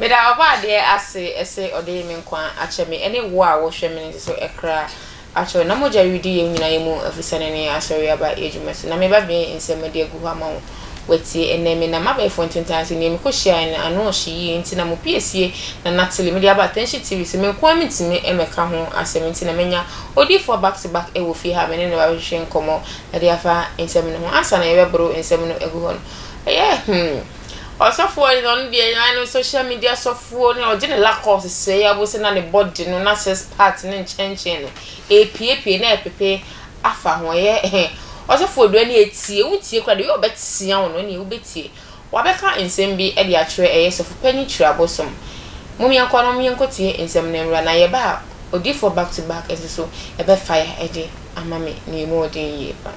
Meda Ɔbɔadeɛ ase sɛ ɔde me nkwa akyɛ me ne wo a wohwɛ me no nso so kra akyɛ wo. Na mogya redi yɛn nyinaa yɛn mu afusiane ne Asɔre aba adwuma so. Na me babea yi nsɛm mede agu hɔ ama wo woatie ɛnnɛ. Me nam abɛɛfo ntentan so. Nea mekɔhyiaeɛ no, ano hye yie nti na mo pie sie na Natalie, mede aba Attention TV so. Me nko ara mentumi mmɛka ho asɛm nti na manya odiyifoɔ back to back wɔ fie ha a me ne no bɛhwehwe nkɔmmɔ de afa nsɛm no ho. Ansa na yɛbɛboro nsɛm no agu hɔ no, ɛyɛ hmm. Ɔsɔfoɔ yi na ɔno deɛ na no social media sɔfoɔ ne ɔgye ne lakɔs sɛe abose na ne body no na six part ne nkyɛnkyɛn no epiepie na ɛpepe afa ho ɛyɛ ɛhɛn ɔsɔfoɔ Odua ne etie wotie kora de yɛ ɔbɛtea wo no ɛne wobɛtie wabɛka nsɛm bi ɛde akyerɛ ɛyɛ sɔfo panyin kyerɛ abosom mom yɛnkɔ no mom yɛnkɔ tie nsɛm no nwura na yɛba a odiifoɔ back to back nso so ɛbɛ fire ɛde ama me ne mu ɔden yie pa.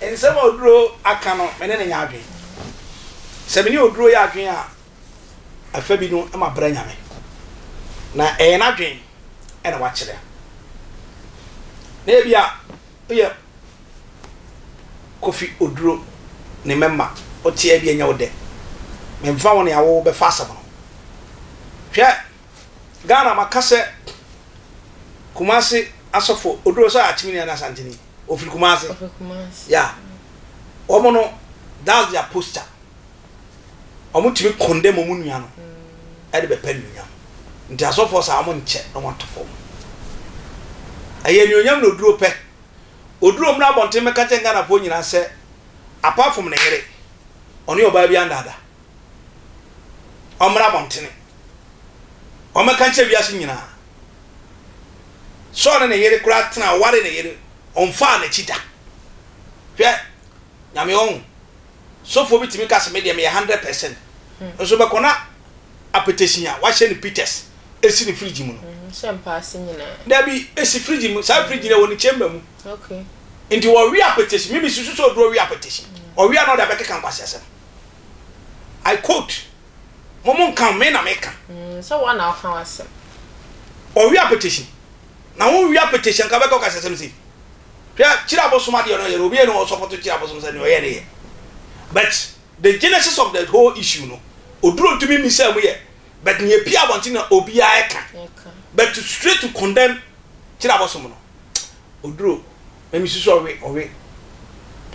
Nsɛm a Oduro aka no, me ne no nyɛ adwene. Sɛ me ne Oduro yɛ adwene a, afa bi no mabrɛ Nyame. Na ɛyɛ n'adwene na wakyerɛ. Na ebia woyɛ Kofi Oduro ne mɛma, wote a ebia ɛnyɛ wo dɛ. Memfa wo nea wobɛfa asɛm no. Hwɛ, Ghana maka sɛ Kumasi asɔfo, Oduro sɛ Akyemini anaa Asanteni. Ofiri Kumasi. Ofiri Kumasi. Yeah. Wɔn no, that's their posture. Wɔn tumi kɔndɛm wɔn nua no ɛde mm. bɛpɛ nuonyam. Nti asɔfoɔ saa wɔn nkyɛ na wɔn ato fam. Ɛyɛ nuonyam na oduro pɛ. Oduro mu na abɔnten mɛka kyɛn Ghanafoɔ nyinaa sɛ apart from ne yere, ɔne ɔbaa bi andaada. ɔmmra abɔntene, ɔmmɛka nkyerɛ wiase nyinaa. Saul ne ne yere koraa tena, ɔwaree ne yere, ɔmfaa n'akyi da. Hwɛ, Nyame ɔhu. Sofoɔ bi tumi ka se, medeɛ meyɛ hundred percent, hmm. nso bɛkɔ na apɛtɛsin a wahyɛ ne pitas esi ne fridge mu no. Hmm, hyɛ mpaase nyinaa. Dabi, esi fridge mu, saa fridge no wɔ ne chamber mu. Okay. Nti wɔwe apɛtɛsin, mimi susu sɛ oduro we apɛtɛsin. Ɔwe hmm. a na ɔde abɛkeka nkwasiasɛm. I quote, Mo mo nka ho, me na meka. Mm, sɛ woa na woka w'asɛm. Ɔwea petition, na wo nwea petition nka bɛka ɔkasasɛm sei. Hwɛ, Kyiri abosom adeɛ no ɔyɛ no, obiara ni hɔ a ɔsɔpɔto Kyiri abosom sɛ nea ɔyɛ no yɛ. But the genesis of the whole issue no, Oduro ntumi mmisaa mu yɛ, but nea epie abɔnten na obiara ɛka. But straight to condemn Kyiri abosom no, Oduro. Na me susu ɔwe ɔwe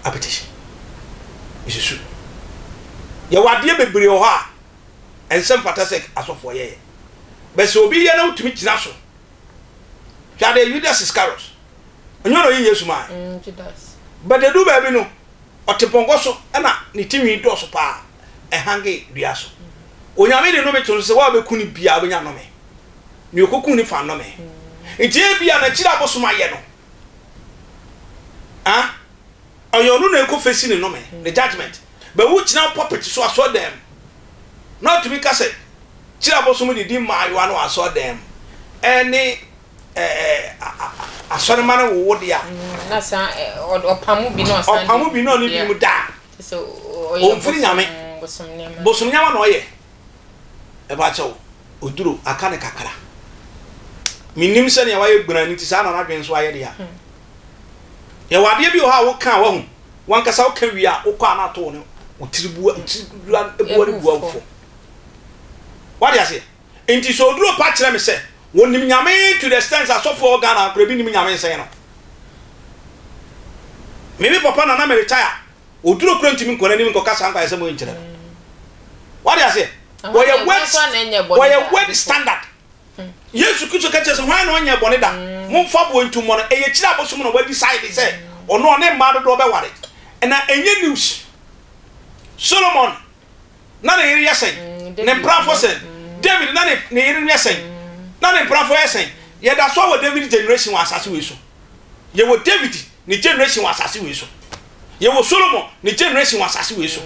apetition me susu yɛ wɔ adeɛ bebree wɔ hɔ a ɛnsɛ mfata sɛ asɔfoɔ yɛ yɛ bɛ sɛ obi yɛ na wotumi gyina so hwɛ adeɛ Judas Iscariot ɛnyɛ ɔno ɔyi Yesu maa mm, bɛ de du baabi no ɔte pɔnkɔ so ɛna ne ti nwi dɔɔso paa ɛhange dua so mm. onyame de nome to no sɛ wɔabɛku ne bia wobɛnya nome ne ɔkɔku ne fa nome mm. nti ebia na akyiri abosom ayɛ no Ah, ɔyɛ ɔno na ɛkɔ fesi ne nnome, ne judgement. Bɛwo gyina pulpit so asɔɔdan mu na ɔtumi ka sɛ, Kyerɛ abosom de di mmaayewa no wɔ asɔɔdan mu ɛne ɛɛ asɔremma no wowo deɛ a. Mm, na saa ɛ, ɔ- ɔpamo bi na ɔsan de- Ɔpamo bi na ɔne Yeah. binom da a, Te sɛ ɔ- ɔyɛ ɔmfiri bosom- Nyame. bosom nneɛma. Bosom nneɛma na ɔyɛ. Mepakyɛw, oduro, aka no kakra. Minnim sɛnea wayɛ gbena no nti saa na n'adwene nso ayɛ dea. Yɛwɔ adeɛ bi wɔ hɔ a woka a wahu, wankasa woka wie a wokɔ a na ato wo ne wo tiri bua, tiri bua no bua wo fam. Wade aseɛ? Nti sɛ oduro pa kyerɛ me sɛ wɔnim Nyame to the extent sɛ asɔfo a wɔ Ghana ha koraa ebi nnim Nyame nsɛn no. Me me papa na na me retire Oduru koro ntumi nkɔ n'anim nkɔka saa nkwayɛsɛm wei nkyerɛ no. Wade aseɛ? Wɔyɛ word, wɔyɛ word standard. Hmm. Yesu Kristo ka kyerɛ sɛ hwan na ɔnyɛ bɔne da? Hmm. Momfa boɔ ntu mmɔ no. Ɛyɛ kyiri abosom na wadi sae de sɛ hmm. ɔno ɔne mmaa dodoɔ bɛware. Ɛna ɛnyɛ news. Solomon na ne yere yɛ sɛn? Ne mprafo sɛn? David na ne yere no yɛ sɛn? Na ne mprafo yɛ sɛn? Yɛda so wɔ David generation wɔ asase wei so. Yɛwɔ David ne generation wɔ asase wei so. Yɛwɔ Solomon ne generation wɔ asase wei so.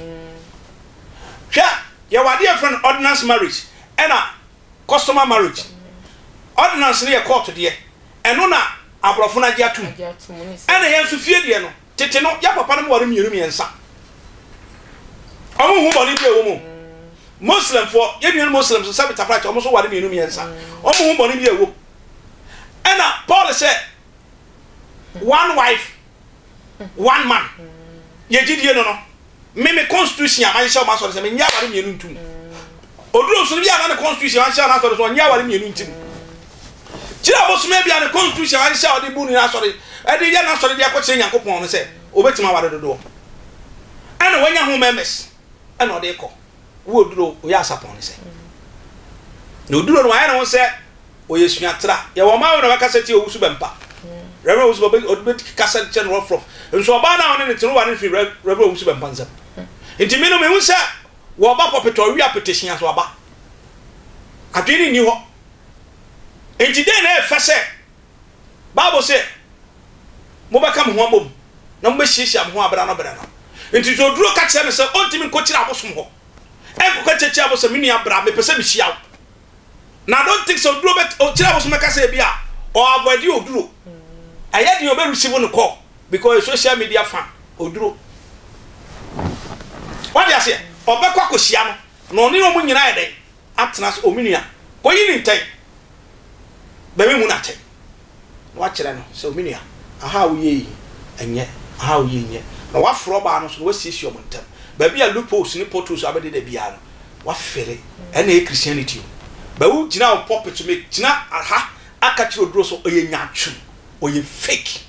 Hwɛ, yɛwɔ adeɛ yɛfrɛ no ordinance marriage ɛna customer marriage. Ordinance no yɛ court deɛ, ɛno na aborɔfo no agye atom. Ɛna yɛn nso fie deɛ no, Tete no, yɛn papanom ware mmienu mmiɛnsa. Wɔnhu bɔne bi a ɛwɔ mu. Muslimfoɔ, yɛn nuanom Muslims, sɛ Bitaprakyɛ, wɔn nso ware mmienu mmiɛnsa. Wɔnhu bɔne bi a ɛwɔ mu. Ɛna Paul sɛ, one wife, one man. Yɛn gyidie no no, Me me constitution a manhyɛ wɔn asɔre sɛ menyɛ aware mmienu ntum. Oduro nsono bi a na ne constitution anhyɛ wɔn asɔre sɛ ɔnyɛ aware mmienu ntim. Kyerɛ abosome bi a ne constitution anhyɛ ɔde bu ne asɔre ɛde yɛ n'asɔre de akɔkyerɛ Nyankopɔn no sɛ obetumi aware dodoɔ. Ɛna wanya ho members ɛna ɔde kɔ. wo oduro oyɛ asapɔn ne sɛ na oduro no wayɛ ne ho sɛ ɔyɛ suatra yɛwɔ ɔman wo na wɔkasa ti ɔwusu bɛmpa rɛverɛ ɔwusu bɛmpa ɔbɛti kasa kyɛ no rɔfrɔf nso ɔbaa no a ɔne ne tene ware no firi rɛverɛ ɔwusu bɛmpa nsɛm nti me no mehu sɛ wɔba pɔpetɔ ɔwe apetehia so aba adwene ne nni hɔ nti dɛn na ɛfɛ sɛ Bible se, Mobɛka mo ho abom na mobɛhyiahyia mo ho berɛ ano berɛ no. Enti sɛ oduro ka kyerɛ no sɛ ɔntumi nkɔkyiri abosom hɔ nkɔka kyekyia bo sɛ me nua bra mepɛ sɛ mehyia wo na I don't think sɛ oduro bɛ ɔkyiri abosom bɛka sɛ ebi a ɔ avoid oduro ɛyɛ deɛ ɔbɛ receive no call because social media fan oduro wade aseɛ ɔbɛkɔ akɔhyia no na ɔne ɔmo nyinaa yɛ dɛn atena so, O me nua, kɔyi no ntɛn, na memmu no atɛn, na woakyerɛ no sɛ, O me nua, aha a woyɛ yi, nyɛ, aha a woyɛ yi, nyɛ, na woaforo ɔbaa no so, na woasiesie wɔn ntam, baabi a loopholes ne potholes abɛdeda biara no, woafere, ɛnna ɛyɛ Christianity o, but wogyina wo pulpit so, megyina ha aka kyerɛ oduro so, ɔyɛ nyaatwom, ɔyɛ fake.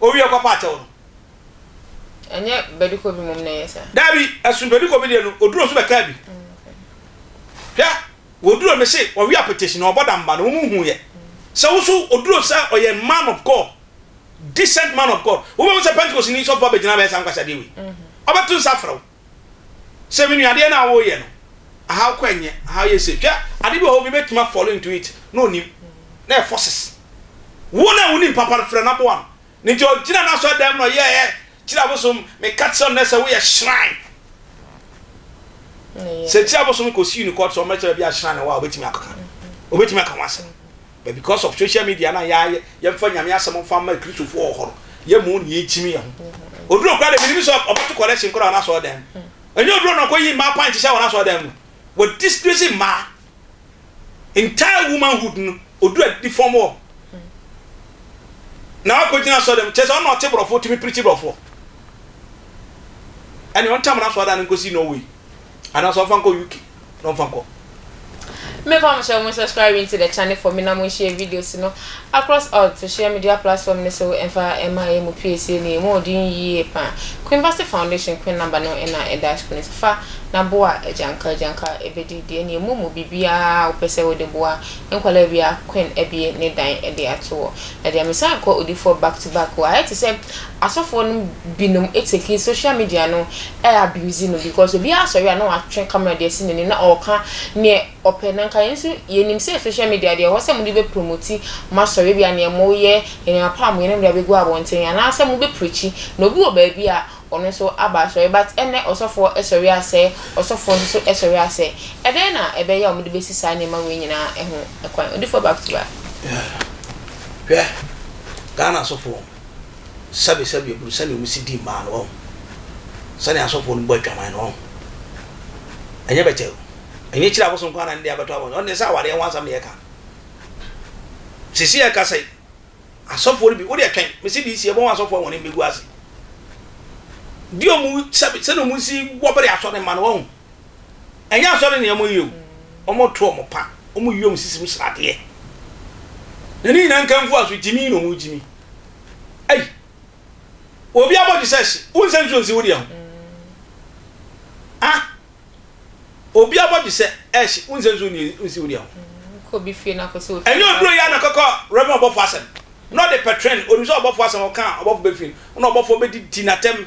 Owie kɔ pa akyɛw no. Ɛnyɛ badikɔ bi mmom na ɛyɛ saa. Dabi, ɛsono badikɔ bi deɛ no, oduro nso bɛkaa bi. Hwɛ, oduro no se ɔwe apetition na ɔbɔ damba no, wɔn nhuuɛ. Sɛ wo nso oduro sɛ ɔyɛ man of God, decent man of God, wobɛhu sɛ Pentecostni sɔfo abɛgyina abɛyɛ saa nkwaseadeɛ wei. Ɔbɛto nsa afrɛ wo. Sɛ me nua adeɛ no a woyɛ no how kɔ ɛnyɛ how yɛ sei hwɛ ade bi wɔ hɔ obi bɛtumi a fall into it na onim na ɛyɛ forces wo na wonim papa no frɛ no aboa no ne nti ɔgyina no asɔ dan mu na ɔyɛ ɛ kyerɛ abosom meka kyerɛ no sɛ woyɛ shrine sɛ kyerɛ abosom kɔ siw ne court sɛ ɔmɛkyerɛ bi a shrine wɔ a obɛtumi akɔka obɛtumi aka ho asɛm But because of social media na yɛayɛ yɛmfa Nyame asɛm mfa mma Kristofo wɔ hɔ no, yɛmmu nea ekyim yɛn ho. Oduro koraa de, menim sɛ ɔbɛto correction koraa wɔ n'asɔɔdan mu. Ɛnyɛ oduro na ɔkɔyi mmaa pant hyɛ wɔ n'asɔɔdan mu. Wɔ disgrace mmaa. Entire womanhood no, oduro adifɔm wɔn. Na wakɔgyina asɔɔdan mu, kyerɛ sɛ ɔno na ɔte borɔfo tumi pirikyi borɔfoɔ. Ɛne ɔntam n'asɔɔdan no nkɔsi Norway, anaasɛ ɔmfa nkɔ UK. na ɔmfa nkɔ. Me pa mo kyɛ mo subscribe into the channel for me na mo nhyɛ videos no across all social media platform no so ɛmfa ɛma ɛyɛ mo pie sie ne ɛmu ɔden yie pa Queen Bassey Foundation Queen number no ɛna ɛda screen no so fa na boa agyanka agyanka ɛbɛdi deɛ ne ɛmu mu biribiara wopɛ sɛ wode boa nkwalaa bia Queen abie ne dan ɛde ato wɔ na deɛ mesan kɔ odifoɔ back to back wɔ ayɛ te sɛ Asɔfoɔ nom binom take social media no ɛ abuse no because obiara sɔre a na watwe camera de asi n'anim na ɔɔka neɛ ɔpɛ na nka yɛn nso yɛnim sɛ social media deɛ ɛwɔ sɛ mode bɛ promote moasɔre ebia neɛ moyɛ nneɛma pa a moyɛ no mode abɛgu abɔnten anaa sɛ mobɛ preachi na obi wɔ baabi a ɔno nso aba asɔre but ɛnnɛ ɔsɔfoɔ sɔre asɛ ɔsɔfoɔ nso sɔre asɛ ɛdɛn na ɛbɛyɛ a wɔde bɛsi saa nneɛma wei nyinaa ho kwan Odifoɔ back to back. Hwɛ Ghana asɔfoɔ. sɛbe sɛbe ebunu sɛnea wɔn si di mmaa no wɔn sɛnea asɔfoɔ no bɔ atwaman no wɔn ɛnyɛ bɛkyɛ o ɛnyɛ kyerɛ abosom kwan na ne de abɛtɔ abɔ ɔno deɛ sɛ awadeɛ ho asɛm na yɛka sisi yɛka sɛ asɔfoɔ no bi wode ɛtwɛn mesi de si ɛbɔ wɔn asɔfoɔ wɔn mbɛgu ase di wɔn sɛbe sɛnea wɔn si wɔbere asɔre ma no wɔn Ɛnyɛ asɔre na wɔyɛ o, wɔto wɔn pa, wɔyi wɔn sisi mu sradeɛ. Na ne nyinaa nkanfo a so gyimi na wɔgyimi. Ei! Obi abɔ Jesus, wonsɛ nsuo nsi wo deɛ ho. Ah! Obi abɔ Jesus, wonsɛ nsuo nsi wo deɛ ho. Ɛnyɛ oduro yɛ na kɔkɔ Reverend ɔbɔfo asɛm. Na ɔde pɛtren, onim sɛ ɔbɔfo asɛm ɔka a ɔbɔfo bɛfiri no, na ɔbɔfo bɛdidi n'atɛm.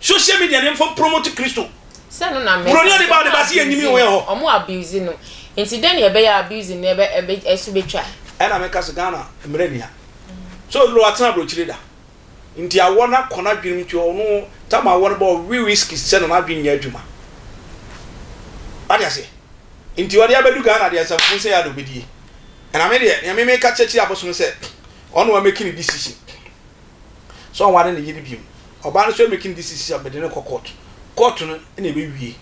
Social media ne nfa promote Kristo. Sɛ ɛno na meka. Buroni a ɔde ba ɔde ba se yɛnyim yi wɔ yɛ hɔ. Ɔmo abuse no. Nti dɛn na ɛbɛyɛ a abuse no ɛbɛ ɛbɛ ɛso bɛtwa. Ɛna meka se Ghana mmrɛ nia. Sɛ ɔduru watena abrokyire da. Nti awɔ no akɔ n'adwenem nti ɔno tam awɔ no ba ɔwe whisky sɛ na n'adwene nyɛ adwuma. Wate aseɛ. Nti ɔde abɛdu Ghana deɛ asafokuo sɛ yɛa na ɔbɛdie. Ɛna me deɛ nea me meka kyerɛkyerɛ abosom sɛ ɔno wa make ne decision. sɛ ɔnware ne yere bio. Ɔbaa no nso ɛmake no decision sɛ mede no kɔ court. Court no na ɛbɛwie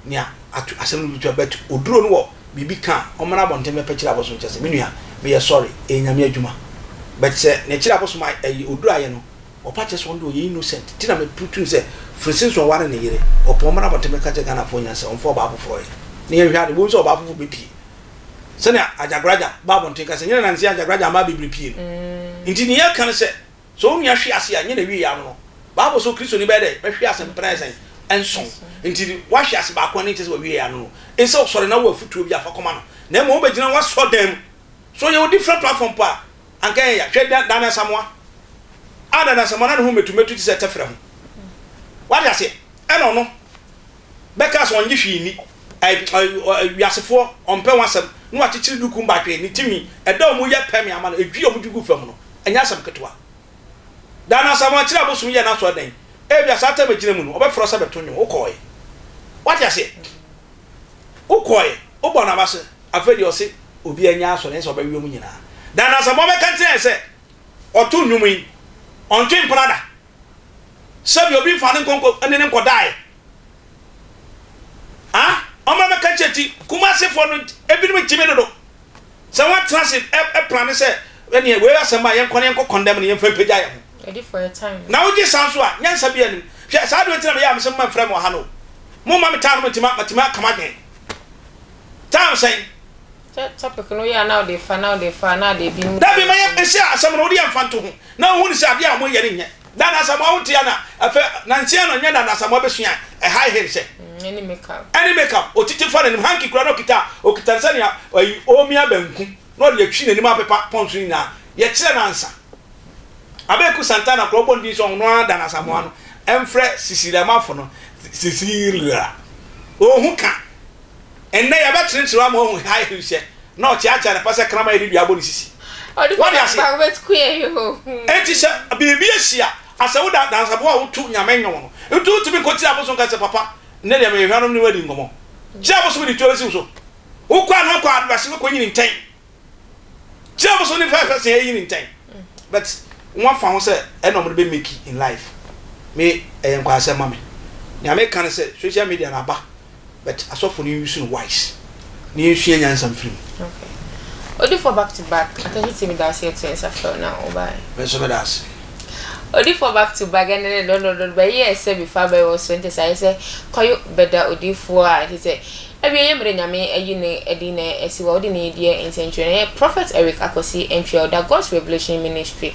nea ato asɛm no bɛtua but oduro no wɔ biribi ka a ɔmmra abɔnten bɛpɛkyere abosom kyɛ sɛ me nua meyɛ sorry ɛyɛ nyame adwuma but sɛ ne kyere abosom a ɛyi oduro ayɛ no ɔpa kyerɛ sɛ ɔno deɛ ɔyɛ innocent nti na me putu no sɛ firi since ɔnware ne yere ɔpɛ ɔmmra abɔnten bɛka kyerɛ Ghanafoɔ nyinaa sɛ ɔmfa ɔbaa foforɔ yɛ na yɛnhwɛ ade wobɛhu sɛ ɔbaa foforɔ bɛpie sɛnea agyagoragyam ba abɔnten ka sɛ, Nyɛ na nanse agyagoragyam mma abibiri pii no. Enti nea ɛka ne sɛ, sɛ onua hwe ase a, nyɛ n'awieɛ ano no. Bible se Kristoni bɛyɛ dɛ? Bɛhwe ase mpɛn ayɛ sɛn? Nson. Enti woahwe ase baako a, ne nkyerɛ sɛ w'awieɛ ano no. Ensɛ wosɔre na wo afotuo biara fa kɔma no, na mmom wobɛgyina w'asɔrdan mu. Sɛ ɔyɛ wo different platform mpo a, anka ɛyɛ ya. Hwɛ Dane Asamoah. Ah, Dane Asamoah, na ne ho mmetumetu te sɛ tɛferɛ ho. Woate aseɛ? Ɛna ɔno. bɛkaa sɛ ɔnnye hwee nni, ɛ, ɛ, ɔ, ɛ, wiasefoɔ, ɔmpɛ ho asɛm, na wakyekyere ne kum batwee, ne timi, ɛda wɔn yɛ pɛmee ama no, edwii wɔn guguu fam no, ɛnyɛ asɛm ketewa. Daa no Asamoah kyerɛɛ abosom yɛɛ n'asɔredan. Ebia saa tɛm a egyina mu no, wɔbɛfrɛ wo sɛ bɛto nnwom, wokɔɔe. Woate aseɛ? Wokɔɔe, wobɔɔ no abase. Afei deɛ ɔse obiara nnya asɔre, ɛnyɛ sɛ ɔbɛwe wɔn nyinaa. Daa no Asamoah bɛka nkyerɛ yɛn sɛ ɔto nnwom yi, ɔntwe mpena da. Sɛbi obi nfa ne nkonko ne ne nkɔdaeɛ a ɔmmra mɛka nkyerɛ ti Kumasefoɔ no ebinom gyimi dodo sɛ wɔn atena ase ɛ plane sɛ ɛneɛ wei asɛm a yɛnkɔ na yɛnkɔ kɔndɛm no yɛmfa mpagya yɛn ho na wogye saa nso a nyansa bi anim hwɛ saa adeɛ nti na meyɛ a mesɛ mma mfrɛ me wɔ ha no o momma me taa no matumi matumi aka m'adwene taa sɛn Sɛ topic no yɛ a na ɔde fa na ɔde fa a na ade adi mu. Dabi ma yɛ nhyɛ asɛm no wode yɛ nfa nto ho na wo hu no sɛ adeɛ a ɔmo yɛ no nyɛ Dan Asamoah wo te a na ɛfɛ nanse ɛno nyɛ Dan Asamoah bɛsua a ɛhae he sɛ Ɛne make up. Ɛne make up ɔtete fa n'anim hanky koraa na ɔkita a ɔkita no sɛnea ayi ɔɔmia banku na ɔde atwi n'anim apepa pɔnso nyinaa yɛ kyerɛ no ansa Abeku Santana koraa ɔbɔ no din sɛ ɔno ara Dan Asamoah no ɛmfrɛ Cecilia Mafo no Cecilia ɔɔhu ka Ɛnnɛ yɛbɛkyerekyere wo ama woahu high heel hyɛ na ɔkyeakyea ne pɛ sɛ kraman a ɛde dua abɔ ne sisi. Wode aseɛ? Enti sɛ biribi asi a, asɛ wo da dansaboa a wotu Nyame nnwom no nti wontumi nkɔkyiri abosom nka sɛ papa nnɛ deɛ meyɛ hwanom ne wo adi nkɔmmɔ. Gye abosom de tuo bɛsi wo so. Wokɔ a na ɔkɔ adodaseɛ kɔnyini ntɛn Kyɛ mo so ne fɛfɛ sɛ ɛyi ne ntɛn. But wɔn afa ho sɛ ɛna wɔn de bɛ make in life. Me ɛyɛ nkwasɛm ma me. Nea me ka ne sɛ social media no aba but asɔfo no use no wise. Na yɛn sua nyansa mfiri mu. Okay. Odifoɔ back to back. Atashe TV da ase yɛto yɛn nsa frɛ wo na wo baeɛ. Me nso me da ase. Odifoɔ back to back ɛne ne dɔdɔdɔdɔ bɛyɛɛ sɛ before abɛyɛ wɔ so ɛnte sɛ ayɛ sɛ kwayo bɛda odifoɔ a ɛte sɛ Awieeɛ mmerɛ Nyame ayi no adi na asi wɔ wode ne deɛ nsɛnkyerɛ no ɛyɛ Prophet Eric Akwasi Antwi a ɔda God's Revelation Ministry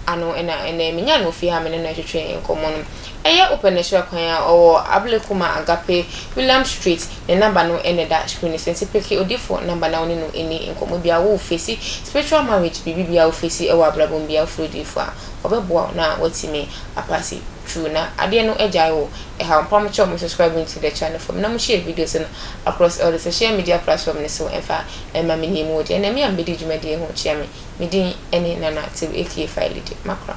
ano na ɛnɛ menyaa no wɔ fie ha a me ne no retwetwe nkɔmmɔ no ɛyɛ wopɛ no sra kwan a ɔwɔ Ablekuma Agape Williams Street ne number no na ɛda screen no so nti peke odiyifoɔ number na wo ne no nni nkɔmmɔ biara wo face spiritual marriage biribi biara wo face wɔ abrabɔ mu biara wofrɛ odiyifoɔ a ɔbɛboa wo na woatumi apase True na adeɛ no agyae wo ɛhaw mpa mo kyɛ ɔmo subscribe me to the channel fam na mo share videos no across all the social media platform no so ɛmfa ɛmma me name wo deɛ na me a mebɛdi dwumadie ho kyea me me din ɛne Nana Tew aka Failede Makora.